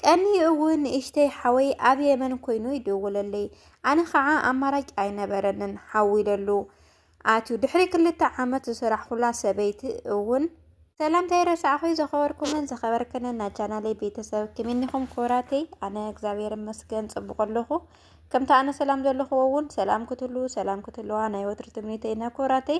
ቀንዩ እውን ንእሽተይ ሓወይ ኣብ የመን ኮይኑ ይድውለለይ ኣነ ከዓ ኣማራጭ ኣይነበረንን ሓዊለሉ ኣትዩ ድሕሪ ክልተ ዓመት ዝስራሕኩላ ሰበይቲ እውን ሰላምታይ ረሳዕኹይ ዘኸበርኩምን ዘኸበርክንን ናይ ቻናለይ ቤተሰብ ክምኒኹም ክብራተይ ኣነ እግዚኣብሔር ይመስገን ፅቡቅ ኣለኹ ከምቲ ኣነ ሰላም ዘለኹዎ እውን ሰላም ክትህልው ሰላም ክትህልዋ ናይ ወትሪ ትምኒተይና ክብራተይ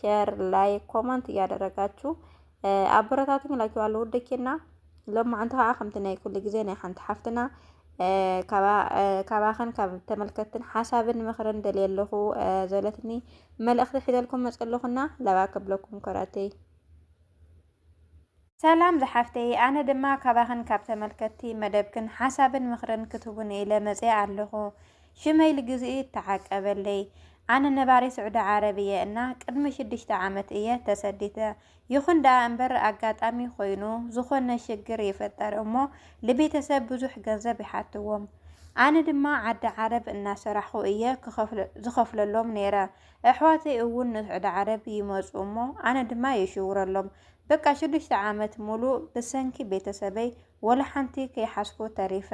ሼር፣ ላይክ፣ ኮመንት እያደረጋችሁ ኣበረታቱኝ እላችኋለሁ ውደኪና ሎማዓንቲ ከዓ ከምቲ ናይ ኩሉ ግዜ ናይ ሓንቲ ሓፍትና ካባኸን ካብ ተመልከትን ሓሳብን ምኽርን ደልየ ኣለኹ ዘለትኒ መልእኽቲ ሒዘልኩም መፀለኹና ለባ ከብለኩም ኮራተይ ሰላም ዝሓፍተይ ኣነ ድማ ካባኽን ካብ ተመልከትቲ መደብክን ሓሳብን ምኽርን ክትቡኒ ኢለ መጽየ ኣለኹ ሽመይ ልግዝኢ ተዓቀበለይ ኣነ ነባሪ ስዑዲ ዓረብ እየ እና ቅድሚ ሽዱሽተ ዓመት እየ ተሰዲተ ይኹን ደኣ እምበር ኣጋጣሚ ኮይኑ ዝኾነ ሽግር ይፈጠር እሞ ልቤተሰብ ብዙሕ ገንዘብ ይሓትዎም ኣነ ድማ ዓዲ ዓረብ እናሰራሕኹ እየ ዝኸፍለሎም ነይረ ኣሕዋተይ እውን ንስዑዲ ዓረብ ይመጹ እሞ ኣነ ድማ ይሽውረሎም በቃ ሽዱሽተ ዓመት ሙሉእ ብሰንኪ ቤተሰበይ ወላ ሓንቲ ከይሓስኩ ተሪፈ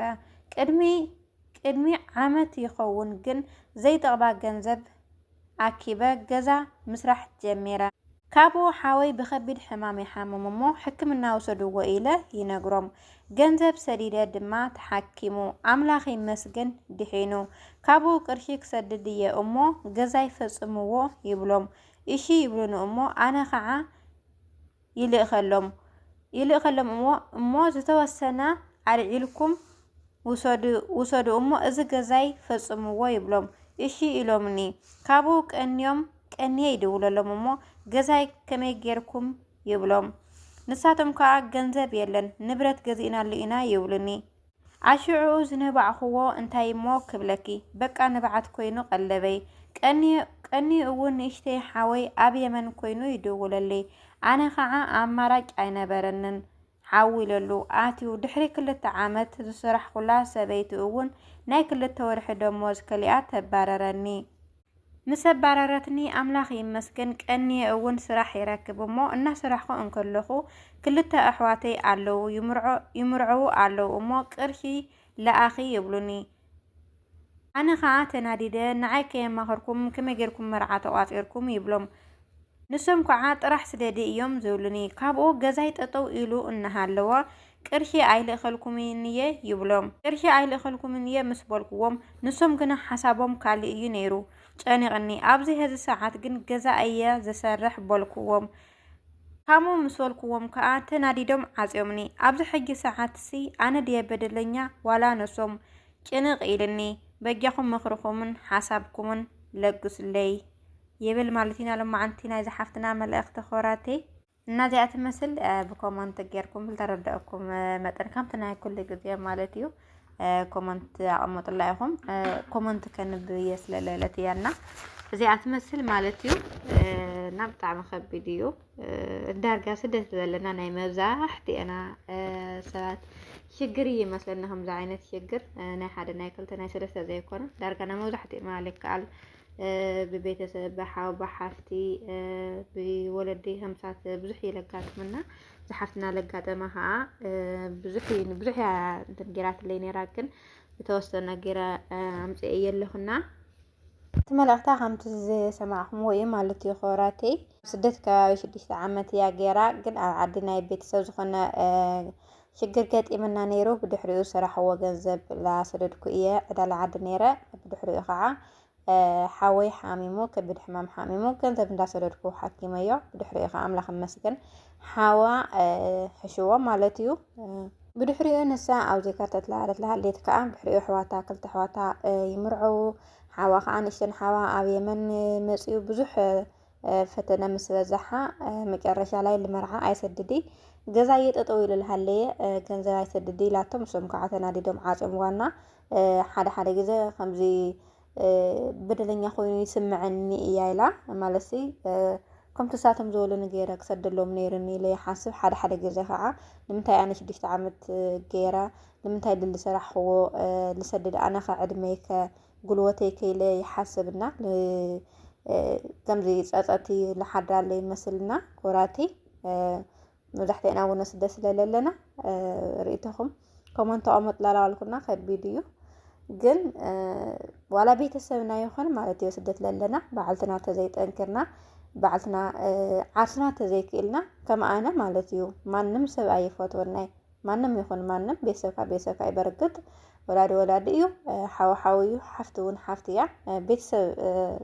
ቅድሚ ቅድሚ ዓመት ይኸውን ግን ዘይጠቕባ ገንዘብ ኣኪበ ገዛ ምስራሕ ጀሚረ። ካብኡ ሓወይ ብከቢድ ሕማም ይሓምም እሞ ሕክምና ውሰድዎ ኢለ ይነግሮም ገንዘብ ሰዲደ ድማ ተሓኪሙ ኣምላክ ይመስገን ድሒኑ ካብኡ ቅርሺ ክሰድድ እየ እሞ ገዛይ ፈፅምዎ ይብሎም እሺ ይብሉኒ እሞ ኣነ ከዓ ይልእከሎም ይልእከሎም እሞ እሞ ዝተወሰነ ኣልዒልኩም ውሰዱ ውሰዱ እሞ እዚ ገዛይ ፈፅምዎ ይብሎም እሺ ኢሎምኒ ካብኡ ቀንዮም ቀንየ ይድውለሎም እሞ ገዛይ ከመይ ጌርኩም ይብሎም። ንሳቶም ከዓ ገንዘብ የለን ንብረት ገዚእናሉ ኢና ይብሉኒ። ኣሽዑ ዝነባዕኹዎ እንታይ እሞ ክብለኪ በቃ ንብዓት ኮይኑ ቀለበይ። ቀንዩ እውን ንእሽተይ ሓወይ ኣብ የመን ኮይኑ ይድውለልይ። ኣነ ከዓ ኣማራጭ ኣይነበረንን ሓው ኢለሉ ኣትዩ ድሕሪ ክልተ ዓመት ዝሰራሕኩላ ሰበይቲ እውን ናይ ክልተ ወርሒ ደሞዝ ከሊኣ ተባረረኒ። ምስ ኣባረረትኒ ኣምላኽ ይመስገን ቀንየ እውን ስራሕ ይረክብ እሞ እናሰራሕኹ እንከለኹ ክልተ ኣሕዋተይ ኣለዉ ይምርዐዉ ኣለዉ እሞ ቅርሺ ለኣኺ ይብሉኒ ኣነ ከዓ ተናዲደ ንዓይ ከየማኸርኩም ከመይ ጌርኩም መርዓ ተቋፂርኩም ይብሎም ንሶም ከዓ ጥራሕ ስደዲ እዮም ዝብሉኒ ካብኡ ገዛይ ጠጠው ኢሉ እናሃለወ ቅርሺ ኣይልእኸልኩምን እየ ይብሎም። ቅርሺ ኣይልእኸልኩምን እየ ምስ በልኩዎም ንሶም ግና ሓሳቦም ካልእ እዩ ነይሩ። ጨኒቕኒ፣ ኣብዚ ሀዚ ሰዓት ግን ገዛ እየ ዝሰርሕ በልኩዎም። ከምኡ ምስ በልኩዎም ከኣ ተናዲዶም ዓጽዮምኒ። ኣብዚ ሕጂ ሰዓትሲ ኣነ ድየ በደለኛ ዋላ ንሶም? ጭንቕ ኢሉኒ። በጃኹም ምኽርኹምን ሓሳብኩምን ለግሱለይ። ይብል ማለት ኢና። ሎማዓንቲ ናይዛ ሓፍትና መልእኽቲ ኮራተይ። እና እዚኣ ትመስል ብኮመንት ጌርኩም ዝተረዳእኩም መጠን ከምቲ ናይ ኩሉ ግዜ ማለት እዩ ኮመንት ኣቕምጡላ ኢኹም ኮመንት ከንብ እየ ስለለለት እያ እና እዚኣ ትመስል ማለት እዩ እና ብጣዕሚ ከቢድ እዩ ዳርጋ ስደት ዘለና ናይ መብዛሕትኤና ሰባት ሽግር እዩ መስለኒ ከምዚ ዓይነት ሽግር ናይ ሓደ ናይ ክልተ ናይ ሰለስተ ዘይኮነ ዳርጋ ናይ መብዛሕትኤና ልከኣል ብቤተሰብ ብሓው ብሓፍቲ ብወለዲ ከምሳት ብዙሕ እዩ ለጋጥምና ዝሓፍትና ለጋጠማ ከዓ ብዙሕ ብዙሕ እንትን ጌራትለይ ነራ ግን ዝተወሰነ ጌረ ኣምፅኤ የለኹና እቲ መልእኽታ ከምቲ ዝሰማዕኹምዎ እዩ ማለት እዩ ክብራተይ ስደት ከባቢ ሽዱሽተ ዓመት እያ ገይራ ግን ኣብ ዓዲ ናይ ቤተሰብ ዝኾነ ሽግር ገጢምና ነይሩ ብድሕሪኡ ዝሰራሕዎ ገንዘብ ላሰደድኩ እየ ዕዳለ ዓዲ ነይረ ብድሕሪኡ ከዓ ሓወይ ሓሚሙ ከቢድ ሕማም ሓሚሙ ገንዘብ እንዳሰደድኩ ሓኪመዮ ብድሕሪኡ ከዓ ኣምላኽ ይመስገን ሓዋ ሕሽዎ ማለት እዩ ብድሕሪኡ ንሳ ኣብዘይ ከርተት ለሃለት ለሃሌት ከዓ ብድሕሪኡ ኣሕዋታ ክልተ ኣሕዋታ ይምርዐዉ ሓዋ ከዓ ንእሽተን ሓዋ ኣብ የመን መፅኡ ብዙሕ ፈተነ ምስ በዛሓ መጨረሻ ላይ ልመርዓ ኣይሰድዲ ገዛ እየጠጠው ይልልሃለየ ገንዘብ ኣይሰድዲ ኢላቶም እሶም ከዓ ተናዲዶም ዓፅምዋና ሓደ ሓደ ግዘ ከምዚ በደለኛ ኮይኑ ይስምዐኒ እያ ኢላ ማለት ከምቲ ንሳቶም ዝበሉኒ ገይረ ክሰደሎም ነይሩኒ ኢለ ይሓስብ ሓደ ሓደ ግዘ ከዓ ንምንታይ ኣነ ሽዱሽተ ዓመት ገይረ ንምንታይ ድል ዝሰራሕክዎ ዝሰድድ ኣነ ከ ዕድመይ ከ ጉልበተይ ከይለ ይሓስብ እና ከምዚ ፀፀቲ ልሓድራለ ይመስልና ኮራቲ መብዛሕትኤና እውን ስደ ስለለለና ርእቶኹም ኮመንት ኣቐመጡ ላላዋልኩና ከቢድ እዩ ግን ዋላ ቤተሰብና ይኹን ማለት እዩ ስደት ለለና በዓልትና ተዘይጠንክርና በዓልትና ዓርስና ተዘይክእልና ከም ኣነ ማለት እዩ ማንም ሰብ ኣይፈትወናይ ማንም ይኹን ማንም ቤተሰብካ ቤተሰብካ እዩ በርግጥ ወላዲ ወላዲ እዩ ሓው ሓው እዩ ሓፍቲ እውን ሓፍቲ እያ ቤተሰብ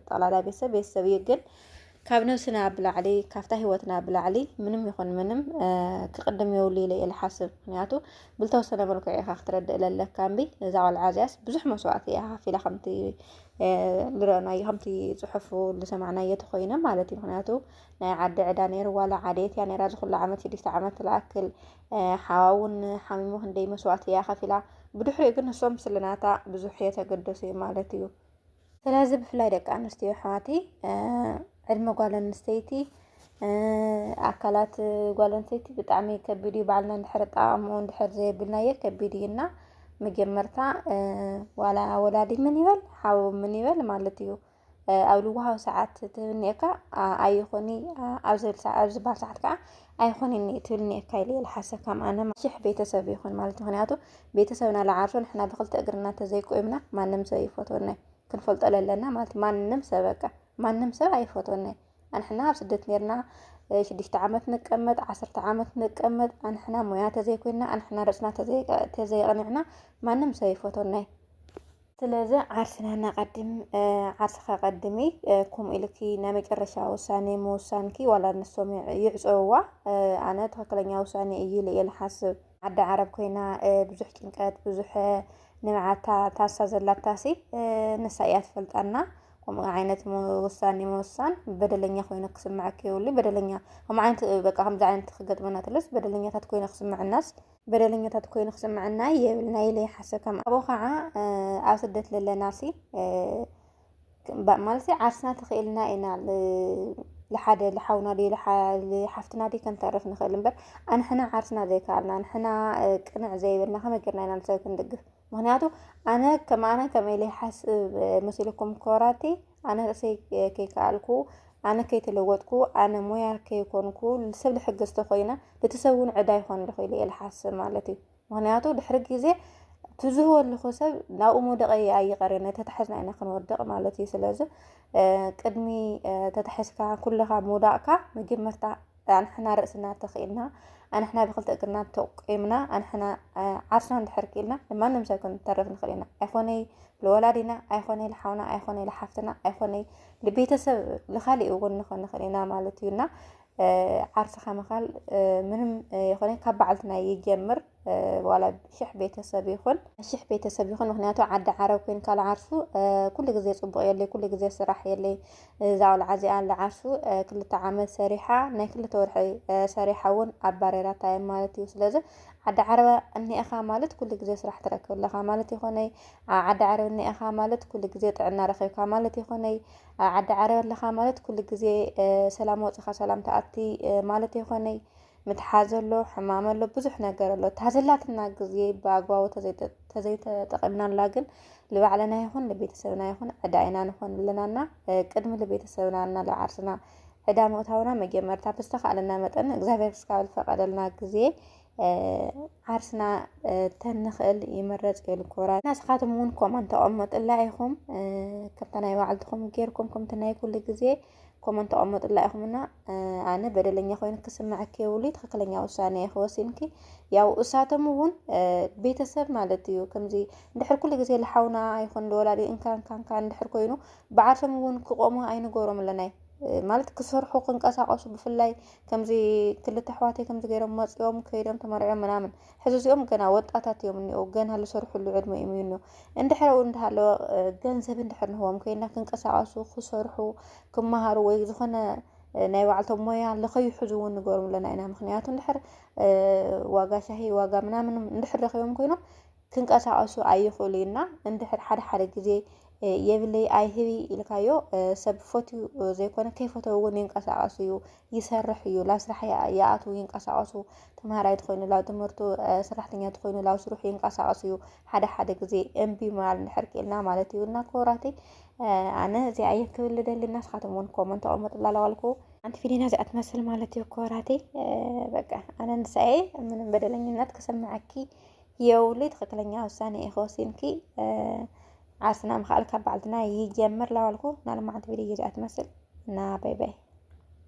ጠቕላላ ቤተሰብ ቤተሰብ እዩ ግን ካብ ነብስና ብላዕሊ ካብታ ሂወትና ብላዕሊ ምንም ይኹን ምንም ክቕድም የብሉ ኢለ እየ ዝሓስብ ምክንያቱ ብልተወሰነ መልክዑ ኢኻ ክትረድእ ለለካ እምቢ እዛ ቆልዓ እዚኣስ ብዙሕ መስዋእቲ እያ ከፊላ ከምቲ ዝረአናዮ ከምቲ ፅሑፉ ዝሰማዕናዮ ተኮይነ ማለት እዩ ምክንያቱ ናይ ዓዲ ዕዳ ነይርዋ ላ ዓደየት እያ ነራ ዝኩሉ ዓመት ሽዱሽተ ዓመት ዝኣክል ሓዋ እውን ሓሚሙ ክንደይ መስዋእቲ እያ ከፊላ ብድሕሪኡ ግን ንሶም ስለናታ ብዙሕ የተገደሱ እዩ ማለት እዩ ስለዚ ብፍላይ ደቂ ኣንስትዮ ኣሕዋተይ ዕድመ ጓል ኣንስተይቲ ኣካላት ጓል ኣንስተይቲ ብጣዕሚ ከቢድ እዩ ባዕልና እንድሕር ጣዕምኡ እንድሕር ዘየብልናየ ከቢድ እዩና መጀመርታ ዋላ ወላዲ ምን ይበል ሓው ምን ይበል ማለት እዩ ኣብ ልዋሃዊ ሰዓት ትብል እኒኤካ ኣይኹኒ ኣብ ዝብል ሰዓት ኣብ ዝበሃል ሰዓት ከዓ ኣይኹኒ እኒ ትብል እኒኤካ ኢለ ልሓሰብ ከም ኣነ ሽሕ ቤተሰብ ይኹን ማለት ምክንያቱ ቤተሰብና ልዓርሶ ንሕና ብክልተ እግርና እንተዘይቆይምና ማንም ሰብ ይፈትወና ክንፈልጦ ለለና ማለት ማንም ሰብ በቃ ማንም ሰብ ኣይፈትወና ኣንሕና ኣብ ስደት ነርና ሽዱሽተ ዓመት ንቀመጥ ዓሰርተ ዓመት ንቀመጥ ኣንሕና ሞያ ተዘይኮይና ኣንሕና ርእስና ተዘይቀኒዕና ማንም ሰብ ይፈትወና ስለዚ ዓርስና ነቐድም፣ ዓርስኻ ቀድሚ፣ ከምኡ ኢልኪ ናይ መጨረሻ ውሳኔ ምውሳንኪ ዋላ ንሶም ይዕፀውዋ ኣነ ትኽክለኛ ውሳኔ እዩ ኢለ እየ ልሓስብ። ዓዲ ዓረብ ኮይና ብዙሕ ጭንቀት ብዙሕ ንብዓታ ታሳ ዘላታሲ ንሳ እያ ትፈልጣና። ከምኡ ዓይነት ውሳኔ ምውሳን በደለኛ ኮይኑ ክስምዐኪ የብሉ በደለኛ ከምኡ ዓይነት በቃ ከምዚ ዓይነት ክገጥመና ተሎስ በደለኛታት ኮይና ክስምዐናስ በደለኛታት ኮይኑ ክስምዐና የብልና ኢለ ይሓስብ ከም ኣብኡ ከዓ ኣብ ስደት ለለናሲ ማለት ዓርስና ተኽኢልና ኢና ልሓደ ልሓውና ድዩ ልሓፍትና ድዩ ከንተርፍ ንኽእል እምበር ኣንሕና ዓርስና ዘይከኣልና ኣንሕና ቅንዕ ዘይብልና ከመይ ጌርና ኢና ንሰብ ክንድግፍ ምክንያቱ ኣነ ከም ኣነ ከም ኢለ ይሓስብ መሲልኩም ኮራቲ ኣነ ርእሰይ ከይከኣልኩ ኣነ ከይተለወጥኩ ኣነ ሞያ ከይኮንኩ ሰብ ልሕግዝ ተኮይነ እቲ ሰብ እውን ዕዳ ይኮን ዶ ኢለ እየ ልሓስብ ማለት እዩ ምክንያቱ ድሕሪ ግዜ ትዝህወ ኣለኹ ሰብ ናብኡ መውደቀ ኣይቀሬን ተታሕዝና ኢና ክንወድቕ ማለት እዩ ስለዚ ቅድሚ ተታሕዝካ ኩለኻ ምውዳቕካ መጀመርታ ኣንሕና ርእስና ተኽኢልና ኣንሕና ብክልተ እግርና ተቆምና ኣንሕና ዓርስና እንድሕር ክኢልና ንማንም ሰብ ክንተርፍ ንኽእል ኢና ኣይኮነይ ንወላዲና ኣይኮነይ ንሓውና ኣይኮነይ ንሓፍትና ኣይኮነይ ንቤተሰብ ንካሊእ እውን ንኾን ንኽእል ኢና ማለት እዩ እና ዓርስኻ ምኻል ምንም ይኾነ ካብ በዓልትና ይጀምር ዋላ ሽሕ ቤተሰብ ይኹን ሽሕ ቤተሰብ ይኹን ምክንያቱ ዓዲ ዓረብ ኮይንካ ልዓርሱ ኩሉ ግዜ ፅቡቕ የለይ ኩሉ ግዜ ስራሕ የለይ እዛ ቆልዓ እዚኣ ልዓርሱ ክልተ ዓመት ሰሪሓ ናይ ክልተ ወርሒ ሰሪሓ እውን ኣባሬራታ እየ ማለት እዩ ስለዚ ዓዲ ዓረብ እኒኤኻ ማለት ኩሉ ግዜ ስራሕ ትረክብ ኣለኻ ማለት ይኾነይ ዓዲ ዓረብ እኒኤኻ ማለት ኩሉ ግዜ ጥዕና ረኺብካ ማለት ይኾነይ ዓዲ ዓረብ ኣለኻ ማለት ኩሉ ግዜ ሰላም ወፅኻ ሰላም ተኣቲ ማለት ይኾነይ ምትሓዝ ኣሎ፣ ሕማም ኣሎ፣ ብዙሕ ነገር ኣሎ። እታ ዘላትና ግዜ ብኣግባቡ ተዘይተጠቒምናላ ግን ንባዕልና ይኹን ንቤተሰብና ይኹን ዕዳ ኢና ንኾን ኣለናና ቅድሚ ንቤተሰብና እና ንዓርስና ዕዳ ምእታውና መጀመርታ ብዝተኻእለና መጠን እግዚኣብሔር እስካብ ዝፈቐደልና ግዜ ዓርስና ተንኽእል ይምረፅ እዩ ልኮራ ናስኻትም እውን ኮመን ተቐመጡላ ኢኹም ከምታ ናይ ባዕልትኹም ጌርኩም ከምቲ ናይ ኩሉ ግዜ ኮመንት ተቐመጡላ ኢኹምና ኣነ በደለኛ ኮይኑ ክስምዐኪ የብሉ ትክክለኛ ውሳኔ ኢኺ ወሲንኪ ያው እሳቶም እውን ቤተሰብ ማለት እዩ ከምዚ እንድሕር ኩሉ ግዜ ልሓውና ይኹን ልወላዲ እንካን ካንካ እንድሕር ኮይኑ ብዓርሶም እውን ክቆሙ ኣይንገሮም ኣለናይ ማለት ክሰርሑ ክንቀሳቀሱ ብፍላይ ከምዚ ክልተ ኣሕዋተይ ከምዚ ገይሮም መፅኦም ከይዶም ተመርዕዮም ምናምን ሕዚ እዚኦም ገና ወጣታት እዮም እኒኦ ገና ልሰርሕሉ ዕድመ እዮም እኒኦ እንድሕረኡ እንዳሃለወ ገንዘብ እንድሕር ንህቦም ኮይና ክንቀሳቀሱ ክሰርሑ ክመሃሩ ወይ ዝኾነ ናይ ባዕልቶም ሞያ ለኸይሕዙ እውን ንገሮም ኣለና ኢና ምክንያቱ እንድሕር ዋጋ ሻሂ ዋጋ ምናምን እንድሕር ረኪቦም ኮይኖም ክንቀሳቀሱ ኣይኽእሉ እና እንድሕር ሓደ ሓደ ግዜ የብለይ ኣይህቢ ኢልካዮ ሰብ ፈትዩ ዘይኮነ ከይፈተው እውን ይንቀሳቀሱ እዩ ይሰርሕ እዩ ላብ ስራሕ ይኣቱ ይንቀሳቀሱ ተምሃራይ ትኮይኑ ላብ ትምህርቱ ሰራሕተኛ ትኮይኑ ላብ ስርሑ ይንቀሳቀሱ እዩ ሓደ ሓደ ግዜ እምቢ ማል እንድሕር ክኢልና ማለት እዩ እና ክቡራተይ ኣነ እዚኣ እየ ክብል ደሊ እና ስኻትኩም እውን ኮመንት ተቐመጡላ ለዋልኩ ኣንቲ ፊሊና እዚኣ ትመስል ማለት እዩ ክቡራተይ በቃ ኣነ ንሳኤ ምንም በደለኝነት ክስምዐኪ የውሊ ትክክለኛ ውሳኔ እየ ከወሲንኪ ዓርስና ምክኣል ካብ በዓልትና ይጀምር ለዋልኩ ናልማዓንቲ ቪድዮ እዚኣ ትመስል እና ባይ ባይ